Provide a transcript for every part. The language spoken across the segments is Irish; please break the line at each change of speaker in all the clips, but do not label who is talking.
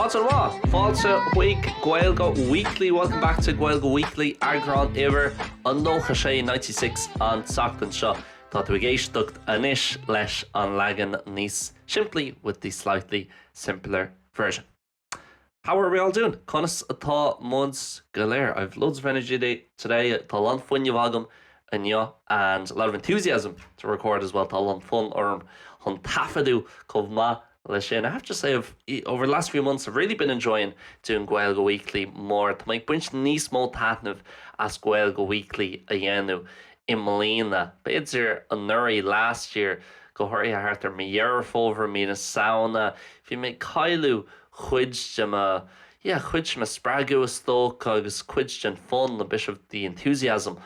Maidin mhaith! Fáilte chuig Gaeilge Weekly, welcome back to Gaeilge Weekly, eagrán uimhir a nócha sé, 96, an tseachtain seo. Tá tú ag éisteacht anois leis an leagan níos simplí, with the slightly simpler version. How are we all doing? Conas atá muid go léir? I've loads of energy today. Tá a lán fuinnimh agam inniu and a lot of enthusiasm to record as well. Tá a lán fonn orm chun taifeadadh chomh maith le sin. I have to say, over the last few months, I've really been enjoying doing Gaeilge Weekly more. Tá mé ag baint níos mó taitneamh as Gaeilge Weekly a dhéanamh. i mbliana, b'fhéidir anuraidh, last year, go háirithe thart ar mí Dheireadh Fómhair, mí na Samhna, bhí mé ag cailleadh cuid de mo, yeah, cuid de mo spreagadh is dócha agus cuid den fonn, a bit of the enthusiasm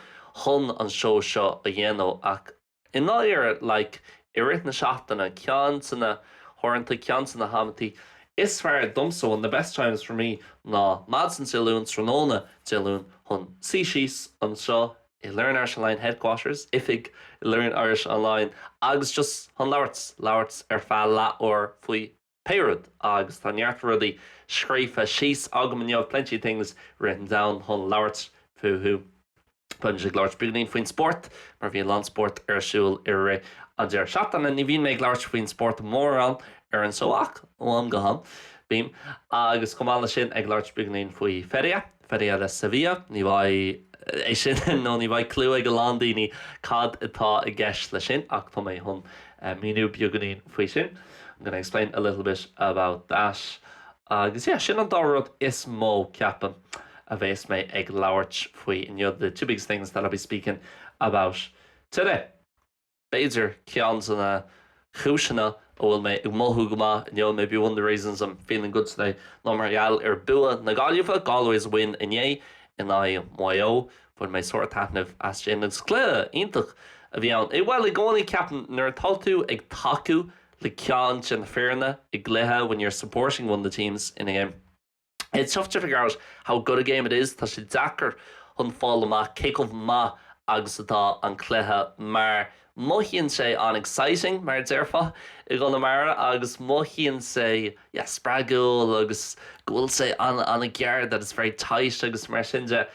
chun an seó seo a dhéanamh ach, i ndáiríre, like, i rith na seachtaine, ceann de na huaireanta, ceann de na hamanntaí is fearr domsa, one of the best times for me, ná maidin Dé Luain, tráthnóna Dé Luain chun suí síos anseo i Learn Irish Online Headquarters, oifig i Learn Irish Online agus just chun labhairt, labhairt ar feadh leath uair faoi pé rud agus tá neart rudaí scríofa síos agam inniu, plenty of things written down chun labhairt fúthu. Beidh muid ag labhairt beagainín faoin spórt mar bhí a lán spórt ar siúl i rith an deireadh seachtaine, ní bhím ag labhairt faoin spórt mórán ar an seó ach ó am go ham bím, agus chomh maith le sin ag labhairt beagainín faoi feria, Feria de Sevilla. Ní bheidh, é sin nó ní bheidh clue ag a lán daoine cad atá i gceist leis sin, ach tá mé chun míniú beagainín faoi sin, I'm gonna explain a little bit about that. Agus yeah, sin an dá rud is mó, ceapaim, a bheas mé ag labhairt faoi inniu, the two biggest things that I'll be speaking about today. B'fhéidir, ceann de na cúiseanna a bhfuil mé ag mothú go maith inniu, maybe one of the reasons I'm feeling good today, ná mar gheall ar bua na Gaillimhe, Galway's win, inné in aghaidh Maigh Eo. Bhain mé sár taitneamh as sin agus cluiche iontach a bhí ann. I, bhuel, i gcónaí ceapaim nuair atá tú ag tacú le ceann de na foirne i gcluiche, when you're supporting one of the teams in a game, It's tough to figure out how good a game it is, tá sé deacair chun fáil amach cé chomh maith agus atá an cluiche, mar mothaíonn sé an-exciting, mar a déarfá i gConamara, agus mothaíonn sé, yeah, spreagúil agus go bhfuil sé an-ghéar, that it's very tight agus mar sin de,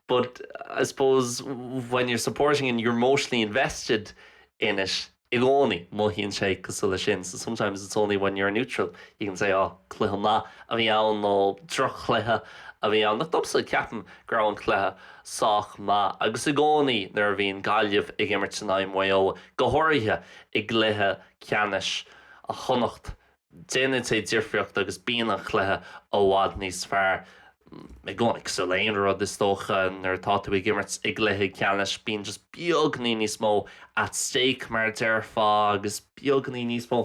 but I suppose when you're supporting and you're emotionally invested in it, i gcónaí, mothaíonn sé cosúil le sin so sometimes it's only when you're neutral you can say oh cluiche maith a bhí ann nó droch-chluiche a bhí ann ach domsa, ceapaim go raibh an cluiche sách maith agus i gcónaí nuair a bhíonn Gaillimh ag imirt in aghaidh Maigh Eo, go háirithe i gcluiche ceannais Chonnacht, Déanann sé difríocht agus bíonn an cluiche i bhfad níos fearr, i gcónaí, cosúil le aon rud is dócha nuair atá tú ag imirt i gcluiche ceannais, bíonn just beagní níos mó at stake mar a déarfá agus beagní níos mó,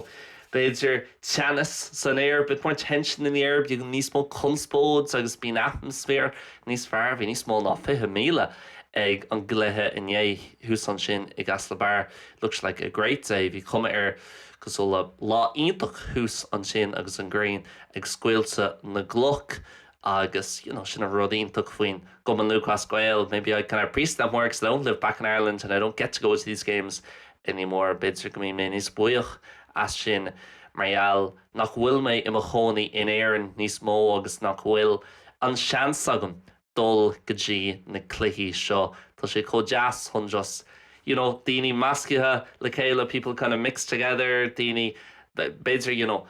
b'fhéidir, teannas san aer, bit more tension in the air, beagán níos mó conspóid agus bíonn atmaisféar níos fearr. Bhí níos mó ná 20,000 ag an gcluiche inné thuas ansin i gCaisleán an Bharraigh, looks like a great day, bhí cuma air. Cosúil le lá iontach thuas ansin agus an ghrian ag scoilteadh na gcloch agus you know sin an rud iontach faoin gCumann Lúthchleas Gael, maybe I kind of appreciate that more because I don't live back in Ireland and I don't get to go to these games anymore, b'fhéidir go mbíonn mé níos buíoch as sin mar gheall nach bhfuil mé i mo chónaí in Éirinn níos mó agus nach bhfuil an seans agam dul go dtí na cluichí seo. Tá sé chomh deas chun just you know daoine meascaithe le chéile people kind of mixed together daoine b'fhéidir you know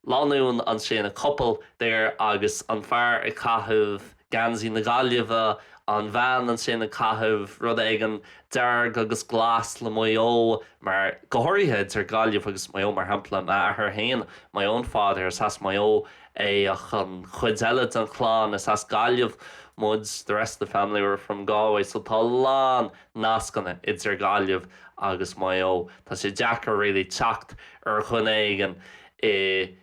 lánúin ansin a couple there agus an fear ag caitheamh geansaí na Gaillimhe an bhean ansin ag caitheamh rud éigin dearg agus glas le Maigh Eo mar go háirithe idir Gaillimh agus Maigh Eo mar shampla m'athair féin my own father, is as Maigh Eo Ach an chuid eile den chlann, is as Gaillimh muid, the rest of the family are from Galway, so tá lán nascanna idir Gaillimh agus Maigh Eo. Tá sé deacair really teacht ar dhuine éigin i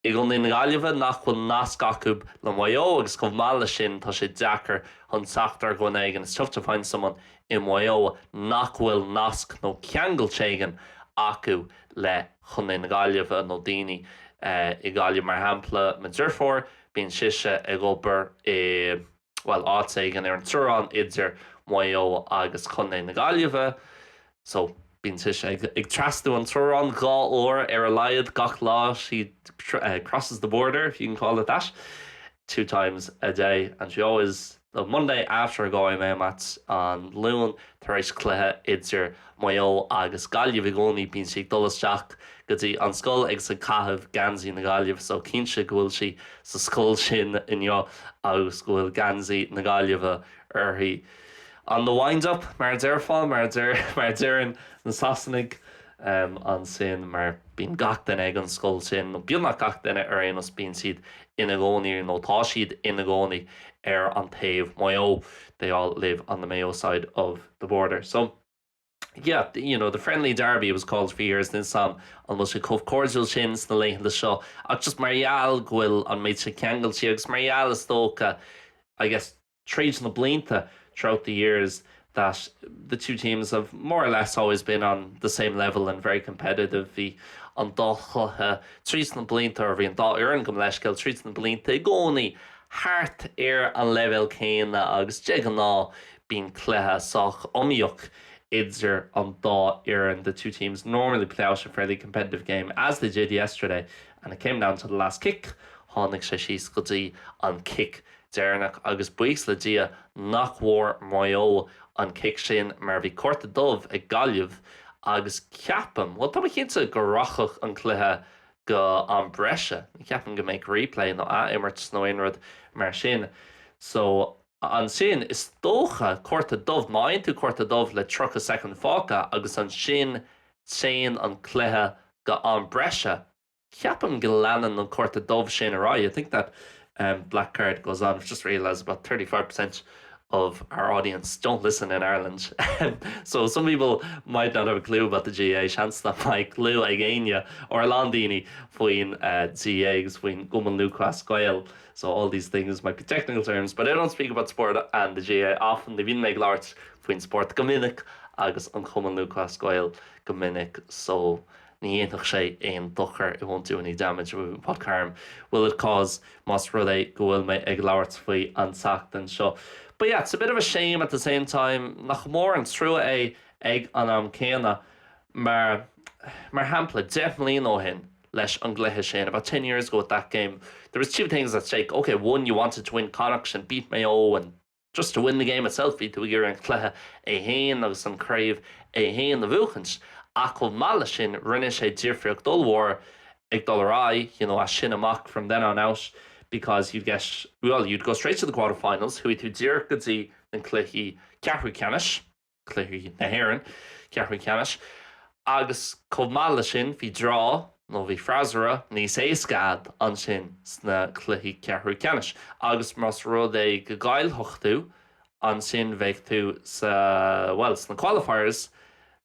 i gContae na Gaillimhe nach bhfuil nasc acu le Maigh Eo agus chomh maith leis sin tá sé deacair chun teacht ar dhuine éigin, it's tough to find someone in Maigh Eo, nach bhfuil nasc nó ceangal éigin acu le. Contae na Gaillimhe nó daoine i nGaillimh mar shampla mo dheirfiúr bíonn sise ag obair i bhuel áit éigin ar an teorainn idir Maigh Eo agus Contae na Gaillimhe so bíonn sise ag trasnú an teorainn dhá uair ar a laghad gach lá she crosses the border if you can call it that at least two times a day and she always The Monday after a Galway Mayo match, An Luan tar éis cluiche idir Maigh Eo agus Gaillimh, i gcónaí bíonn sí ag dul isteach go dtí an scoil agus ag caitheamh geansaí na Gaillimhe so cinnte go bhfuil sí sa scoil sin inniu agus go bhfuil geansaí na Gaillimhe uirthi. On the wind up mar a déarfá, mar a deireann na Sasanaigh, ansin mar bíonn gach duine ag an scoil sin, nó beagnach gach duine ar aon nós bíonn siad ina gcónaí nó tá siad ina gcónaí ar an taobh Maigh Eo they all live on the Mayo side of the border so yeah you know the friendly derby it was called for years don't know an bhfuil sé chomh cordial sin sna laethanta seo ach just mar gheall go bhfuil an méid sin ceangailte agus mar gheall is dócha I guess Tríd na blianta, throughout the years, that the two teams have more or less always been on the same level and very competitive, bhí an dá chluiche tríd na blianta, or bhí an dá fhoireann, gabhaim leithscéal, tríd na blianta i gcónaí thart ar an leibhéal céanna agus de ghnáth bíonn cluiche sách iomaíoch idir an dá fhoireann the two teams normally play out a fairly competitive game, as they did yesterday, and it came down to the last kick, tháinig sé síos go dtí an cic deireanach agus buíochas le Dia nach bhfuair Maigh Eo an cic sin mar bhí cárta dubh ag Gaillimh agus ceapaim, bhuel tá mé cinnte go rachadh an cluiche go am breise. Ní cheapaim go mbeadh replay nó athimirt nó aon rud mar sin. So ansin is dócha cárta dubh, má fhaigheann tú cárta dubh le 30 soicind fágtha agus ansin téann an cluiche go am breise, Ceapaim go leanann an cárta dubh sin ar aghaidh, I think that black card goes on, I've just realised about thirty five per cent of our audience don't listen in Ireland so some people might not have a clue about the GAA, seans nach mbeidh cliú ag éinne or a lán daoine faoin GAA agus faoin gCumann Lúthchleas Gael so all these things might be technical terms but I don't speak about sport and the GAA often, ní bhíonn mé ag labhairt faoin spórt go minic agus an Cumann Lúthchleas Gael go minic so. ní dhéanfadh sé aon dochar it won't do any damage, I mean what harm will it cause más rud é go bhfuil mé ag labhairt faoi an tseachtain seo but yeah it's a bit of a shame at the same time nach mór an trua é ag an am céanna mar mar shampla deich mbliana ó shin leis an gcluiche sin about ten years ago with that game there was two things at stake ok one you wanted to win Connacht and beat Mayo and Just to win the game itself, bhí tú ag iarraidh an cluiche é héin agus an chraobh é héin a bhuachaint, ach chomh maith leis sin, rinne sé difríocht ollmhór ag dul ar aghaidh, you know, as sin amach, from then on out, because you'd get, well, you'd go straight to the quarterfinals, chuaigh tú díreach go dtí na cluichí ceathrú ceannais. cluichí na hÉireann, ceathrú ceannais, agus chomh maith leis sin bhí draw nó bhí freasúra níos éasca agat ansin sna cluichí ceathrú ceannais agus más rud é go gcaillfeadh tú ansin bheadh tú sa, bhuel sna qualifiers,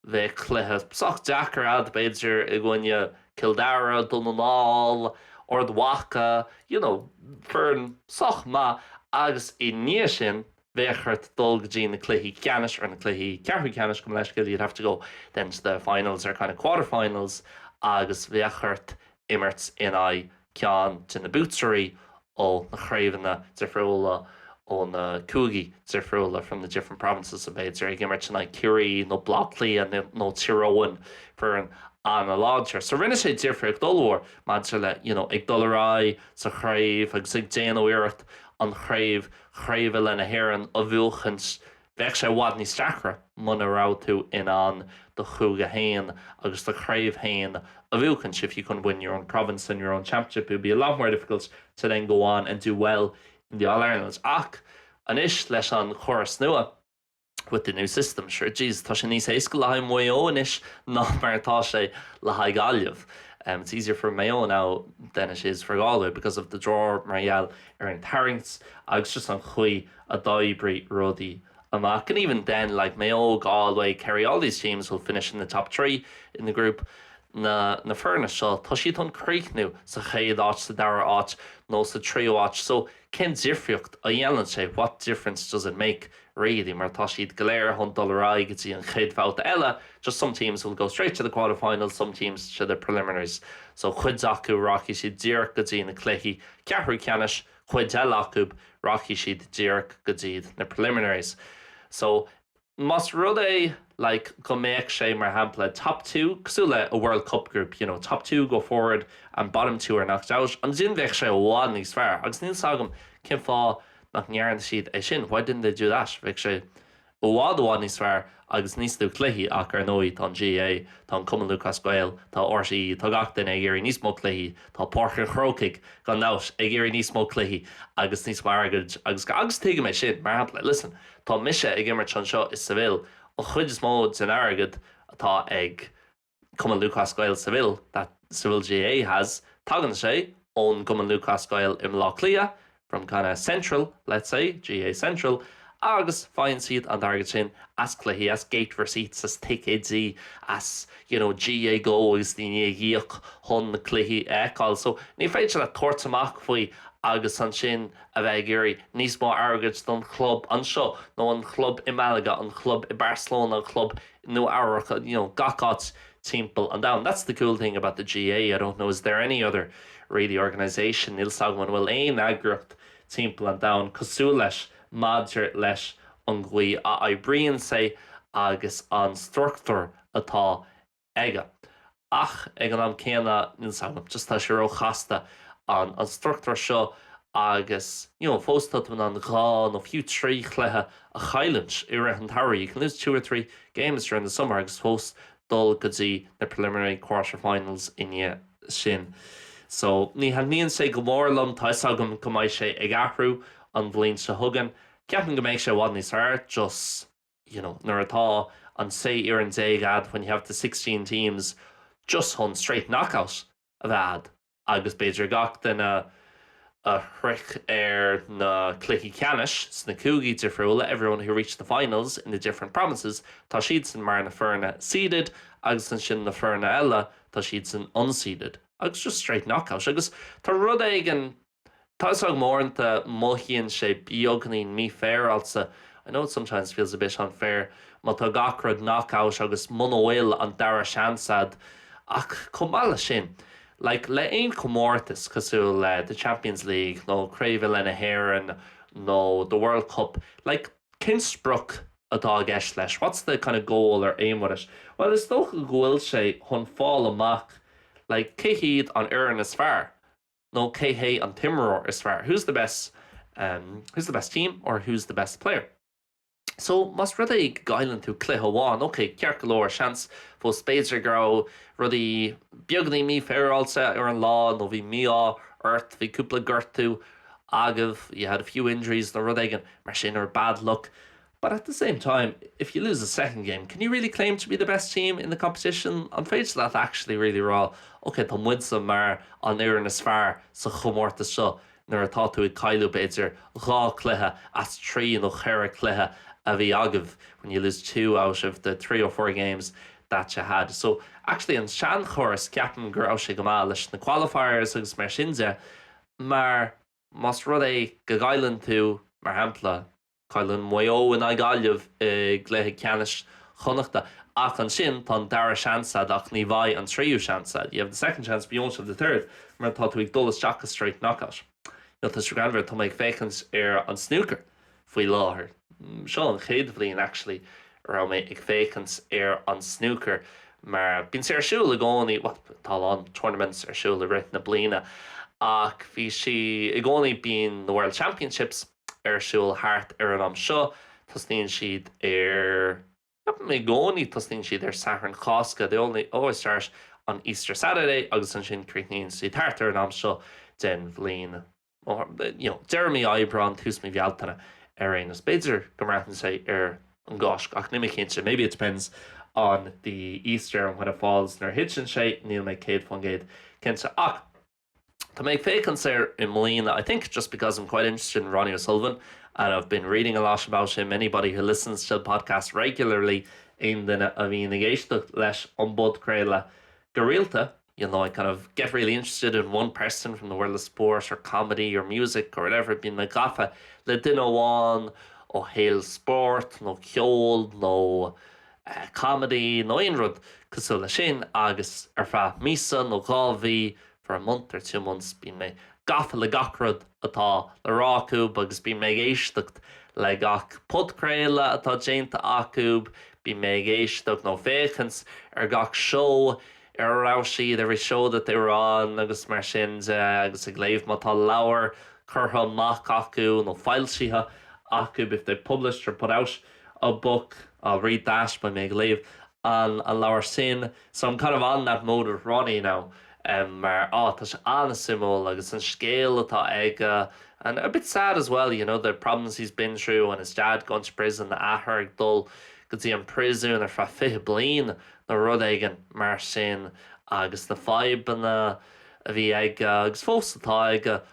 bheadh cluiche sách deacair agat b'fhéidir i gcoinne Cill Dara, Dún na nGall, Ard Mhaca, you know foireann sách maith agus i ndiaidh sin bheadh ort dul go dtí na cluichí ceannais, or na cluichí ceathrú ceannais gabh mo leithscéal, you'd have to go then to the finals or kind of quarterfinals agus bheadh ort imirt in aghaidh ceann de na buaiteoirí ó na craobhanna difriúla, ó na cúigí difriúla, from the different provinces, b'fhéidir ag imirt in aghaidh Ciarraí nó Bleá Cliath nó nó Tír Eoghain, foireann an-láidir. So rinne sé difríocht ollmhór maidir le, you know, ag dul ar aghaidh sa chraobh agus ag déanamh iarracht an chraobh, craobh na hÉireann a bhuachaint, bheadh sé i bhfad níos deacra muna raibh tú in ann do chúige féin agus do chraobh féin a bhuachaint, if you couldn't win your own province and your own championship, it would be a lot more difficult to then go on and do well in the All-Irelands. Ach anois, leis an gcóras nua. With the new system, sure, jeez, tá sé níos éasca le haghaidh Mhaigh Eo anois ná mar atá sé le haghaidh Ghaillimh. It's easier for Mayo now than it is for Galway because of the draw, mar gheall ar an tarraingt agus just an chaoi a d'oibrigh rudaí amach. And even then, like, Mayo, Galway, Kerry, all these teams will finish in the top three in the group. Na, na foirne seo, tá siad chun críochnú sa chéad áit, sa dara áit nó sa tríú áit. So. Cén difríocht a dhéanann sé, what difference does it make, really, mar tá siad go léir chun dul ar aghaidh go dtí an chéad bhabhta eile, just some teams will go straight to the quarterfinals, some teams to the preliminaries. So, cuid acu, rachaidh siad díreach go dtí na cluichí ceathrú ceannais, cuid eile acu, rachaidh siad díreach go dtí na preliminaries. So. Más rud é, like, go mbeadh sé, mar shampla, top two, cosúil le a World Cup group, you know, top two go forward and bottom two are knocked out, ansin bheadh sé i bhfad níos fearr agus níl 's agam cén fáth nach ndearna siad é sin, why didn't they do that? Bheadh sé i bhfad, i bhfad níos fearr agus níos lú cluichí ach, ar ndóigh, tá an GAA, tá an Cumann Lúthchleas Gael, tá RTÉ, tá gach duine ag iarraidh níos mó cluichí, tá Páirc an Chrócaigh, gan dabht, ag iarraidh níos mó cluichí agus níos mó airgid agus, agus tuigim é sin, mar shampla, listen, Tá mise ag imirt anseo in Seville, an chuid is mó den airgead atá ag Cumann Lúthchleas Gael Seville, that Seville GAA has, tagann sé ón gCumann Lúthchleas Gael i mBleá Cliath, from kind of Central, let's say, GAA Central, agus faigheann siad an t-airgead sin as cluichí, as gate receipts, as ticéidí, as, you know, GAA Go agus daoine ag íoc chun na cluichí a fheiceáil. So, ní féidir leat tabhairt amach faoi agus ansin, a bheith ag iarraidh níos mó airgid don chlub anseo nó an club i Malaga, an club i Barcelona, an club i Nua Eabhrac, you know, gach áit timpeall an domhain. That's the cool thing about the GAA, I don't know is there any other really organisation, níl 's agam an bhfuil aon eagraíocht timpeall an domhain cosúil leis maidir leis an gcaoi a oibríonn sé agus an struchtúr atá aige. Ach ag an am céanna, níl 'fhios agam, just tá sé ró-chasta, an struchtúr seo, agus you know fós tá tú in ann dhá nó fiú trí chluiche a chailliúint i rith an tsamhraidh, you can lose two or three games during the summer, agus fós dul go dtí na preliminary quarterfinals i ndiaidh sin. So, ní thaitníonn sé go mór liom, tá 'fhios agam go mbeidh sé ag athrú an bhliain seo chugainn. Ceapaim go mbeidh sé i bhfad níos fearr, just. you know nuair atá an sé fhoireann déag a'd when you have the sixteen teams just chun straight knockout a bheith a'd agus b'fhéidir gach duine a shroich na cluichí ceannais sna cúigí difriúla everyone who reached the finals in the different provinces tá siadsan mar na foirne seeded agus ansin na foirne eile tá siadsan unseeded agus just straight knockout agus tá rud éigin taitneamhach mór ann. Tá, mothaíonn sé beagainín mí-fair-áilte, I know it sometimes feels a bit unfair, má tá gach rud knock out agus muna bhfuil an dara seans a'd. Ach chomh maith leis sin, like le aon chomórtas cosúil le The Champions League nó Craobh Uile na hÉireann nó The World Cup, like cén sprioc atá i gceist leis, what's the kind of goal or aim with it? Bhuel is dócha go bhfuil sé chun fáil amach like cé hiad an fhoireann is fearr, nó cé hé an t-imreoir is fearr who's the best who's the best team or who's the best player. So, más rud é go gcailleann tú cluiche amháin, ok, ceart go leor, seans, fós b'fhéidir go raibh rudaí beagainín mífhéaráilte ar an lá nó bhí mí-ádh ort, bhí cúpla gortú agaibh you had a few injuries nó rud éigin mar sin or bad luck But at the same time, if you lose a second game, can you really claim to be the best team in the competition? An féidir leat actually really rá, OK, tá muidse mar an fhoireann is fearr sa chomórtas seo nuair atá tú ag cailliúint b'fhéidir dhá chluiche as trí nó cheithre chluiche a bhí agaibh when you lose two out of the three or four games that you had? So, actually an seanchóras, ceapaim go raibh sé go maith leis na qualifiers agus mar sin de mar más rud é go gcailleann tú, mar shampla, Cailleann Maigh Eo in aghaidh Gaillimh i gcluiche ceannais Chonnachta ach ansin tá an dara seans a'd ach ní bheidh an tríú seans a'd, you have the second chance but you won't have the third, mar tá tú ag dul isteach go straight knockout. Tá sé greannmhar, tá mé ag féachaint ar an snúcar faoi láthair, seo an chéad bhliain actually a raibh mé ag féachaint ar an snúcar mar bíonn sé ar siúl i gcónaí, bhuel tá a lán tournaments ar siúl i rith na bliana ach bhí sí, i gcónaí bíonn na World Championships, ar siúl thart ar an am seo, tosnaíonn siad ar, ceapaim i gcónaí tosnaíonn siad ar Satharn Chásca, they only always start on Easter Saturday, agus ansin críochnaíonn siad thart ar an am seo den bhliain, you know, deireadh mí Aibreán, tús mí Bhealtaine ar aon nós, b'fhéidir go mbraitheann sé ar an gCáisc ach níl mé cinnte, maybe it depends on the Easter and when it falls, nuair a thiteann sé, níl mé céad faoin gcéad cinnte ach. Tá mé ag féachaint air i mbliana, I think just because I'm quite interested in Ronnie O'Sullivan and I've been reading a lot about him, anybody who listens to the podcast regularly, aon duine a bhíonn ag éisteacht leis an bpodchraoladh go rialta, you know, I kind of get really interested in one person from the world of sport or comedy or music or whatever, bíonn mé gafa le duine amháin ó shaol spóirt nó ceoil nó. comedy nó aon rud cosúil leis sin agus ar feadh míosa nó dhá mhí for a month or two months bíonn mé gafa le gach rud atá le rá acu agus bíonn mé ag éisteacht le gach podchraoladh atá déanta acu, bíonn mé ag éisteacht nó féachaint ar gach seó ar a raibh siad, every show that they were on agus mar sin de agus ag léamh má tá leabhar curtha amach acu nó foilsithe acu, if they've published or put out. a book, I'll read that, beidh mé ag léamh an leabhar sin, so I'm kind of on that mode with Ronnie now, mar, á, tá sé an-suimiúil agus an scéal atá aige and a bit sad as well, you know, the problems he's been through and his dad going to prison, a athair ag dul go dtí an bpríosún ar feadh fiche bliain nó rud éigin mar sin agus na fadhbanna a bhí aige agus fós atá aige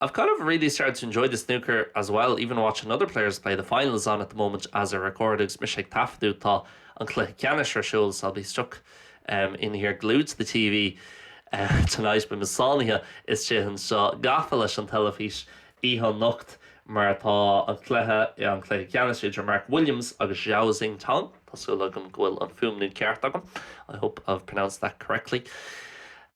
I've kind of really started to enjoy the snooker as well, even watching other players play, the final is on at the moment as I record agus mise ag taifeadadh tá an cluiche ceannais ar siúl so I'll be stuck um in here glued to the TV uh, tonight beidh mé sáinnithe istigh anseo gafa leis an teilifís oíche anocht mar tá an cluiche an cluiche ceannais idir Mark Williams agus Zhao Xintong tá súil agam go bhfuil an fuaimniú ceart agam I hope I've pronounced that correctly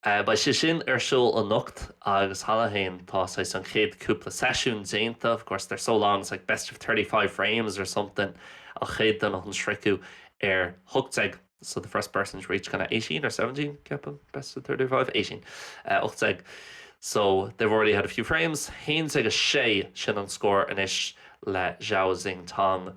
Beidh sé sin ar siúl anocht agus cheana féin tá saghas an chéad cúpla seisiún déanta, of course they're so long it's like best of thirty five frames or something, an chéad duine chun sroicheadh ar ocht déag so the first person to reach kinda eighteen or seventeen ceapaim best of thirty five, eighteen, eh ocht déag so they've already had a few frames, haon déag a sé sin an scór anois le Zhao Xintong.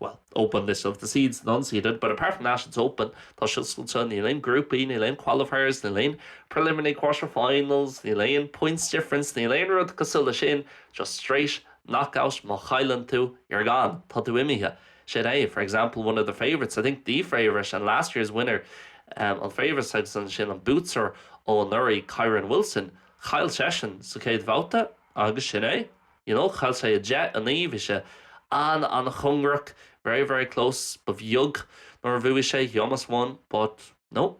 well, open less of the seeds non-seeded, but apart from that, it's open, tá sé oscailte, níl aon grúpaí, níl aon qualifiers, níl aon preliminary quarterfinals, níl aon points difference, níl aon rud cosúil leis sin, just straight knockout, má chailleann tú, you're gone, tá tú imithe. Sin é, for example, one of the favourites, I think the favourite and last year's winner, um, an favourite agus ansin an buaiteoir ó anuraidh, Kyren Wilson, chaill seisean sa chéad bhabhta, Agus sin é. You know, chaill sé 10, 9, bhí sé an-an-chóngarach, very, very close, ba bheag nár bhuaigh sé, he almost won, but, no,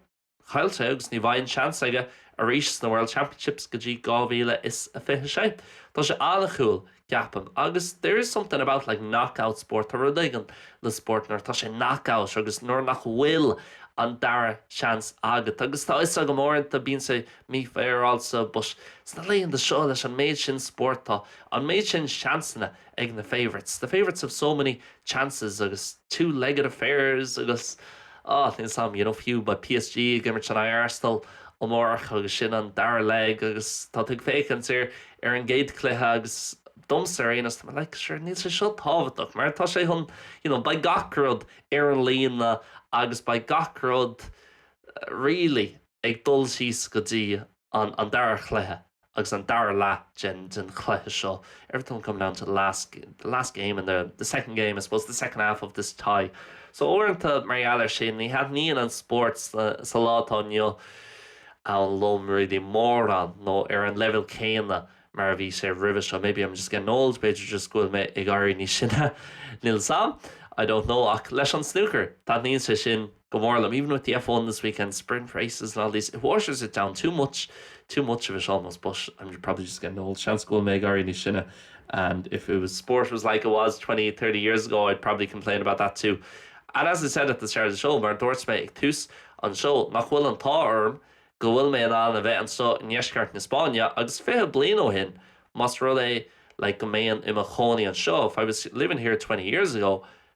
chaill sé agus ní bheidh an seans aige arís sna World Championships go dtí 2026. Tá sé an-chúl, ceapaim, agus there is something about, like, knockout sport, tá rud éigin le spóirt nuair atá sé knockout agus nuair nach bhfuil an dara seans agat agus tá 'fhios agam uaireanta bíonn sé mífhéaráilte but sna laethanta seo leis an méid sin spóirt, tá an méid sin seansanna ag na favourites, the favourites have so many chances agus two legged affairs agus ah, níl 's 'am, you know, fiú beidh PSG ag imirt in aghaidh Arsenal amárach agus sin an dara leg agus tá tú ag féachaint ar ar an gcéad cluiche agus domsa ar aon nós, tá like sure níl sé seo tábhachtach mar tá sé chun you know, beidh gach rud ar an líne agus beidh gach rud really. ag dul síos go dtí an an dara chluiche agus an dara leath den den chluiche seo everything will come down to the last the last game in the the second game I suppose the second half of this tie so uaireanta mar gheall ar sin ní thaitníonn an spórt sa sa lá atá inniu ann liom really mórán nó ar an leibhéal céanna mar a bhí sé roimhe seo maybe I'm just getting old b'fhéidir just go bhfuil mé ag éirí níos sine níl 's am I don't know ach leis an snúcar taitníonn sé sin Go mór liom, even with the F1 this weekend, sprint races and all these, it waters it down too much, too much of it almost, but I'm probably just getting old. Seans go bhfuil mé ag éirí níos sine and if it was sport was like it was 20, 30 years ago I'd probably complain about that too. And as I said at the start of the show, mar a dúirt mé ag tús an seó, nach bhfuil an t-ádh orm go bhfuil mé in ann a bheith anseo i ndeisceart na Spáinne agus fiche bliain ó shin más rud é like go mbeinn i mo chónaí anseo if I was living here twenty years ago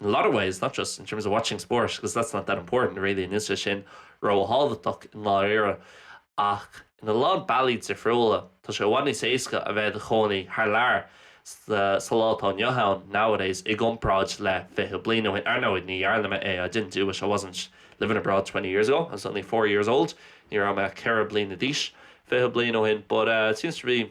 in a lot of ways, not just in terms of watching sport, 'cause that's not that important really, níl sé sin ró-thábhachtach i ndáiríre, ach in a lán bealaí difriúla, tá sé i bhfad níos éasca a bheith i do chónaí thar lear sa lá atá inniu ann, nowadays, i gcomparáid le fiche bliain ó shin. Ar ndóigh, ní dhearna mé é, I didn't do it, I wasn't living abroad twenty years ago, I was only four years old, ní raibh mé ach ceithre bliana d'aois fiche bliain ó shin, but it seems to be.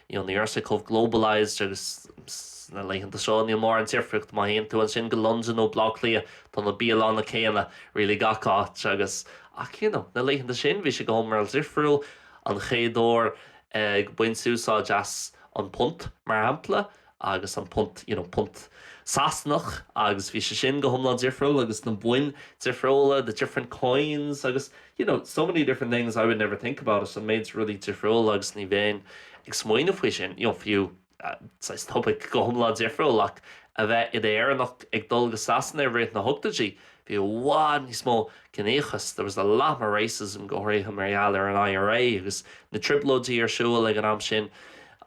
You know, ní raibh sé chomh globalized agus sna laethanta seo níl mórán difríocht má théann tú ansin go Londain nó Baile Átha Cliath, tá na bialanna céanna really gach áit agus ach you know, na laethanta sin bhí sé go hiomlán difriúil, an chéad uair ag baint úsáid as an punt mar shampla agus an punt, you know, punt Sasanach agus bhí sé sin go hiomlán difriúil agus na boinn difriúla, the different coins agus, you know, so many different things I would never think about it, an méid rudaí difriúla agus ní bheinn ag smaoineamh faoi sin, you know, fiú, saghas topaic go hiomlán difriúil ach a bheith id Éireannach ag dul go Sasana i rith na hochtóidí, Bhí i bhfad níos mó ciníochas, there was a lot more racism, go háirithe mar gheall ar an IRA agus na trioblóidí ar siúl ag an am sin.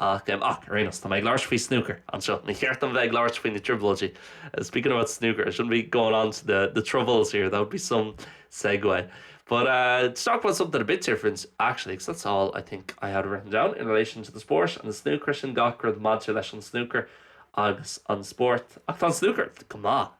Ach, em, ach, ar aon nós, tá mé ag labhairt faoi snúcar anseo, ní ceart dom bheith ag labhairt faoi na trioblóidí, speaking about snooker, I shouldn't be going on to the, the troubles here, that would be some segue. But, uh, to talk about something a bit different, actually, because that's all I think I had written down in relation to the sport and the snooker, sin gach rud maidir leis an snúcar agus an spórt. Ach tá an snúcar go maith.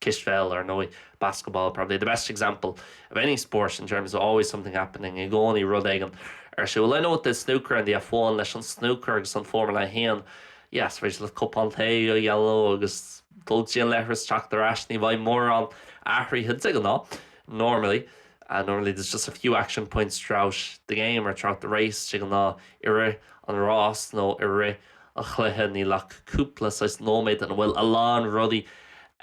cispheil, ar ndóigh, basketball, probably the best example of any sport in terms of always something happening, i gcónaí rud éigin ar siúl. I know with the snooker and the F1, leis an snúcar agus an Formula 1, yes, is féidir leat cupán tae a dhéanamh agus dul go dtí an leithreas, teacht ar ais, ní bheidh mórán athraithe de ghnáth, normally, normally there's just a few action points throughout the game or throughout the race, de ghnáth i rith an ráis nó i rith. an chluiche níl ach cúpla saghas nóiméad ina bhfuil a lán rudaí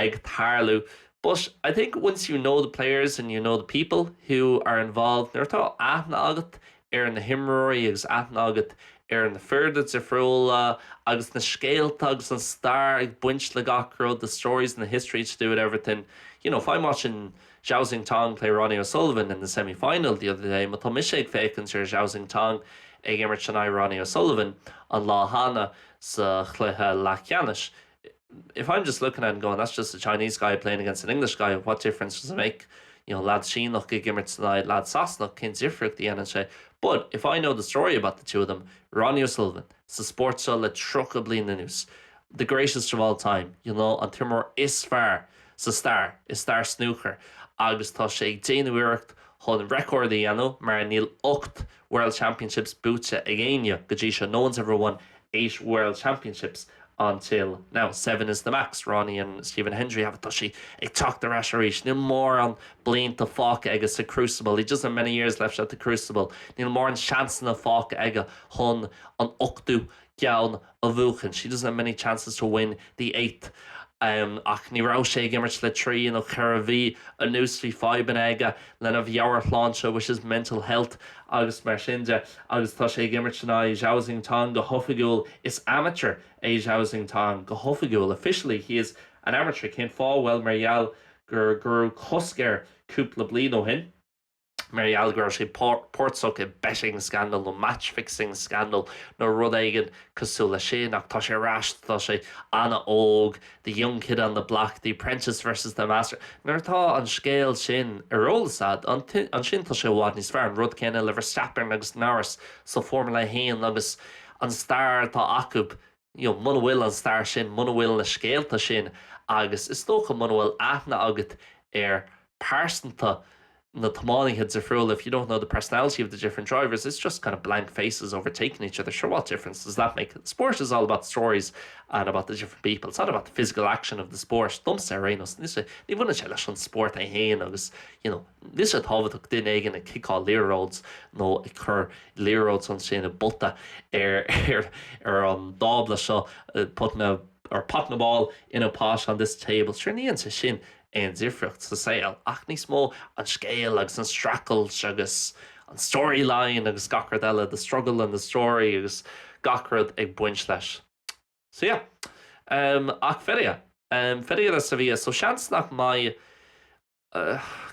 ag tarlú but I think once you know the players and you know the people who are involved nuair atá aithne agat ar na himreoirí agus aithne agat ar na foirne difriúla agus na scéalta agus an stair ag baint le gach rud the stories and the history to do with everything you know if I'm watching Zhao Xintong play Ronnie O'Sullivan in the semi-final the other day, Má tá mise ag féachaint ar Zhao Xintong ag imirt in aghaidh Ronnie O'Sullivan an lá cheana sa chluiche leathcheannais If I'm just looking at it and going, that's just a Chinese guy playing against an English guy, what difference does it make? You know, leaid Síneach ag imirt in aghaidh leaid Sasanach, cén difríocht a dhéanann sé? But if I know the story about the two of them, Ronnie O'Sullivan, sa spórt seo le 30 bliain anuas, the greatest of all time, you know, an t-imreoir is fearr, sa stair i stair snúcair agus tá sé ag déanamh iarracht chun record a dhéanamh mar níl ocht World Championships buaite ag éinne go dtí seo, no one's ever won eight World Championships until now, seven is the max, Ronnie and Stephen Hendry have it tá sé ag teacht ar ais arís, níl mórán blianta fágtha aige sa crucible, he doesn't have many years left at the crucible níl mórán seansanna fágtha aige chun an ochtú gceann a bhuachan, he doesn't have many chances to win the eighth. Ach ní raibh sé ag imirt le trí nó ceithre mhí anuas, bhí fadhbanna aige lena mheabhairshláinte, which is mental health, agus mar sin de, agus tá sé ag imirt in aghaidh Zhao Xintong go hoifigiúil, is amateur é Zhao Xintong go hoifigiúil, officially he is an amateur, cén fáth? Bhuel, mar gheall go raibh cosc air cúpla bliain ó shin. mar gheall go raibh sé páirteach i betting scandal nó match fixing scandal nó rud éigin cosúil leis sin. Ach tá sé ar ais, tá sé an-óg, the young kid on the block, the apprentice versus the master. Nuair atá an scéal sin ar eolas agat, ansin tá sé i bhfad níos fearr. An rud céanna le Verstappen agus Norris sa Formula 1 agus an stair atá acu. you know, muna bhfuil an stair sin, muna bhfuil na scéalta sin agus is dócha muna bhfuil aithne agat ar pearsanta na tiománaithe difriúla, if you don't know the personality of the different drivers, it's just kind of blank faces overtaking each other, sure what difference does that make? Sport is all about stories and about the different people, it's not about the physical action of the sport, domsa ar aon nós, níos ní bhaineann sé leis an sport é féin agus you know, níos sé tábhachtach duine éigin ag ciceáil liathróid nó a chur liathróid sa net i bpota ar ar an dtábla seo putting a ball in a pot on this table sure ní dhéanann sin aon difríocht sa saol ach níos mó an scéal agus an streachailt agus an story line agus gach rud eile the struggle and the story agus gach rud ag baint leis so yeah um, ach feria um, feria de Sevilla so seans nach mbeidh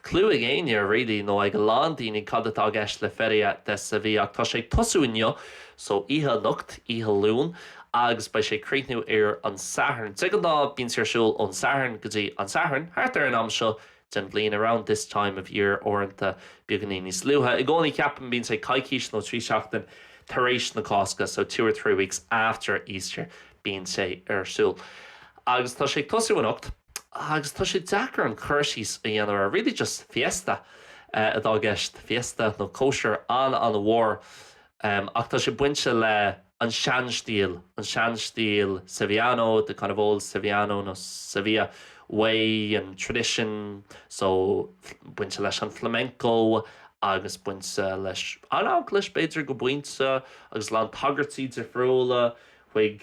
clue ag éinne really nó ag a lán daoine cad atá i gceist le Feria de Sevilla ach tá sé ag tosú inniu so oíche inniu anocht, oíche Luain, agus beidh sé ag críochnú ar an Satharn. De ghnáth bíonn sé ar siúl ón Satharn go dtí an Satharn thart ar an am seo den bhliain, around this time of year uaireanta beagainín níos luaithe. I gcónaí ceapaim bíonn sé coicís nó trí sheachtain tar éis na Cásca so two or three weeks after Easter bíonn sé ar siúl. Agus tá sé ag tosú anocht. agus tá sé deacair an cur síos a dhéanamh ar, really just fiesta atá i gceist, fiesta nó cóisir an-an-mhór, ach tá sé bainte le an seanstíl, an seanstíl Sevillano, the kind of old Sevillano nó Sevilla way and tradition, so bainte leis an flamenco agus bainte leis an Eaglais b'fhéidir go pointe agus a lán tagairtí difriúla chuig.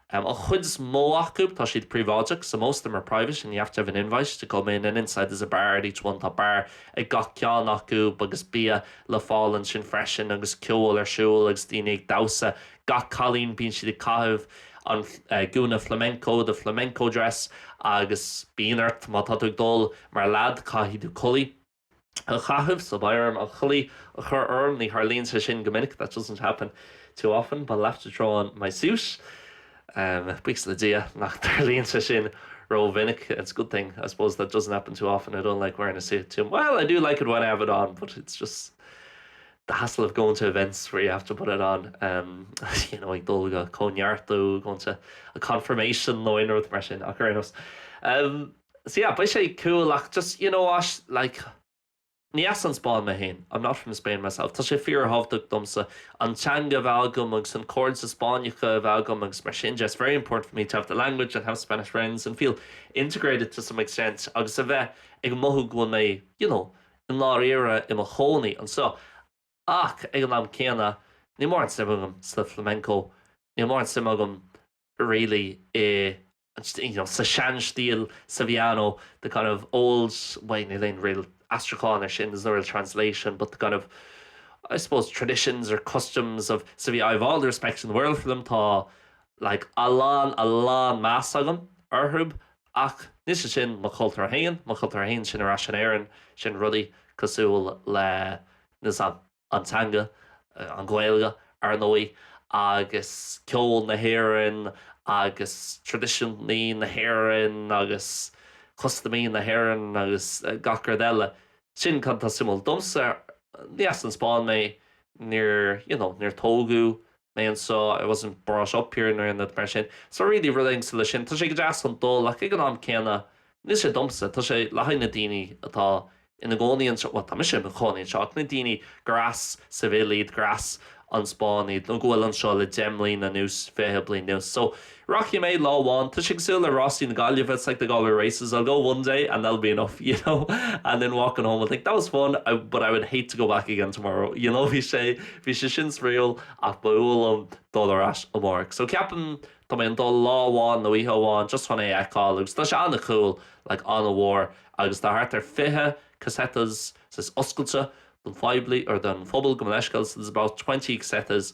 An chuid is mó acu, tá siad príobháideach, so most of them are private and you have to have an invite to come in, and inside there's a bar at each one, tá beár ag gach ceann acu agus bia le fáil ansin freisin agus ceol ar siúl agus daoine ag damhsa, gach cailín bíonn siad ag caitheamh an gúna flamenco, the flamenco dress, agus bíonn ort, má tá tú ag dul mar leaid, caithfidh tú culaith. a chaitheamh sa bhfeirm, an chulaith a chur orm, ní tharlaíonn sé sin go minic, that doesn't happen too often, but I'll have to throw on my suit. Buíochas le Dia nach dtarlaíonn sé sin rómhinic, it's a good thing, I suppose, that it doesn't happen too often, I don't like wearing a suit too, well, I do like it when I have it on, but it's just the hassle of going to events where you have to put it on, you know, ag dul go comhneartú, going to a confirmation nó aon rud mar sin, ach ar aon nós. So yeah, beidh sé cool ach just you know, like ní as an Spáinn mé féin, I'm not from Spain myself, tá sé fíorthábhachtach domsa an teanga a bheith agam agus an cairde Spáinneacha a bheith agam agus mar sin de, it's very important for me to have the language and have Spanish friends and feel integrated to some extent agus a bheith ag mothú go bhfuil mé you know i ndáiríre i mo chónaí anseo ach ag an am céanna níl mórán suim agam sa flamenco, níl mórán suim agam. really i you know sa seanstíl Sevillano the kind of old way níl aon real aistriúchán ar sin there's no real translation but the kind of I suppose traditions or customs of Sevilla I have all the respect in the world for them tá like a lán a lán meas agam orthu ach níl sé sin mo chultúr féin mo chultúr féin sin ar ais in Éirinn sin rudaí cosúil le níl a fhios agam an teanga, an Ghaeilge, ar ndóigh, agus ceol na hÉireann agus traidisiúntaí na hÉireann agus custaimí na hÉireann agus gach rud eile. Sin cad tá suimiúil domsa. Ní as an Spáinn mé, níor, you know, níor tógadh mé anseo, I wasn't brought up here nó aon rud mar sin. So really really i leith sin, tá sé go deas ag dul ach ag an am céanna ní sé domsa, tá sé le haghaidh na daoine atá ina gcónaí anseo, bhuel tá mise i mo chónaí anseo ach na daoine gur as Seville iad, gur as an Spáinn iad nó go bhfuil anseo le fiche bliain anuas. So. Rachaidh mé, lá amháin, tá sé cosúil le Rásaí na Gaillimhe, it's like the Galway Races, I'll go one day and that'll be enough, you know, and then walking home I'll think, that was fun, but I would hate to go back again tomorrow, you know, bhí sé, bhí sé sin spraíúil ach ba fhuath liom dul ar ais amárach. So ceapaim, tá mé ag dul lá amháin nó oíche amháin just chun é a fheiceáil agus tá sé an-cool, like an-mhór agus tá thart ar 20 casetas oscailte don phoiblí or don phobal gabh mo leithscéal, so there's about twenty casetas,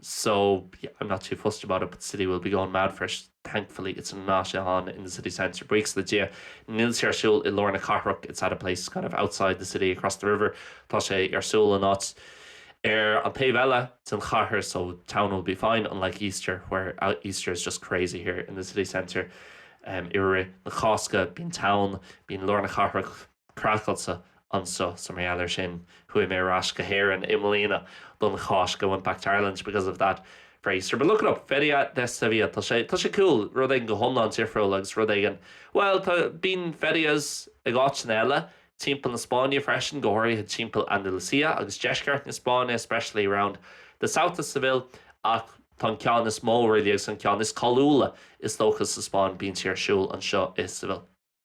so yeah, I'm not too fussed about it but the city will be going mad for it, thankfully it's not on in the city centre buíochas le Dia, níl sé ar siúl i lár na cathrach it's at a place kind of outside the city across the river tá sé ar siúl in áit ar an taobh eile den chathair so town will be fine unlike Easter where uh, Easter is just crazy here in the city centre um, i rith na Cásca bíonn town bíonn lár na cathrach Craiceáilte anseo, so mar gheall ar sin, chuaigh mé ar ais go hÉirinn i mbliana don Cháisc, I went back to Ireland because of that for Easter, but look it up, Feria de Sevilla, tá sé, tá sé cool, rud éigin go hiomlán difriúil agus rud éigin, bhuel, tá, bíonn ferias ag áiteanna eile timpeall na Spáinne freisin, go háirithe timpeall Andalucia agus deisceart na Spáinne, especially around the south of Seville, ach tá an ceann is mó really, agus an ceann is cáiliúla is dócha sa Spáinn, bíonn sé ar siúl anseo i Seville.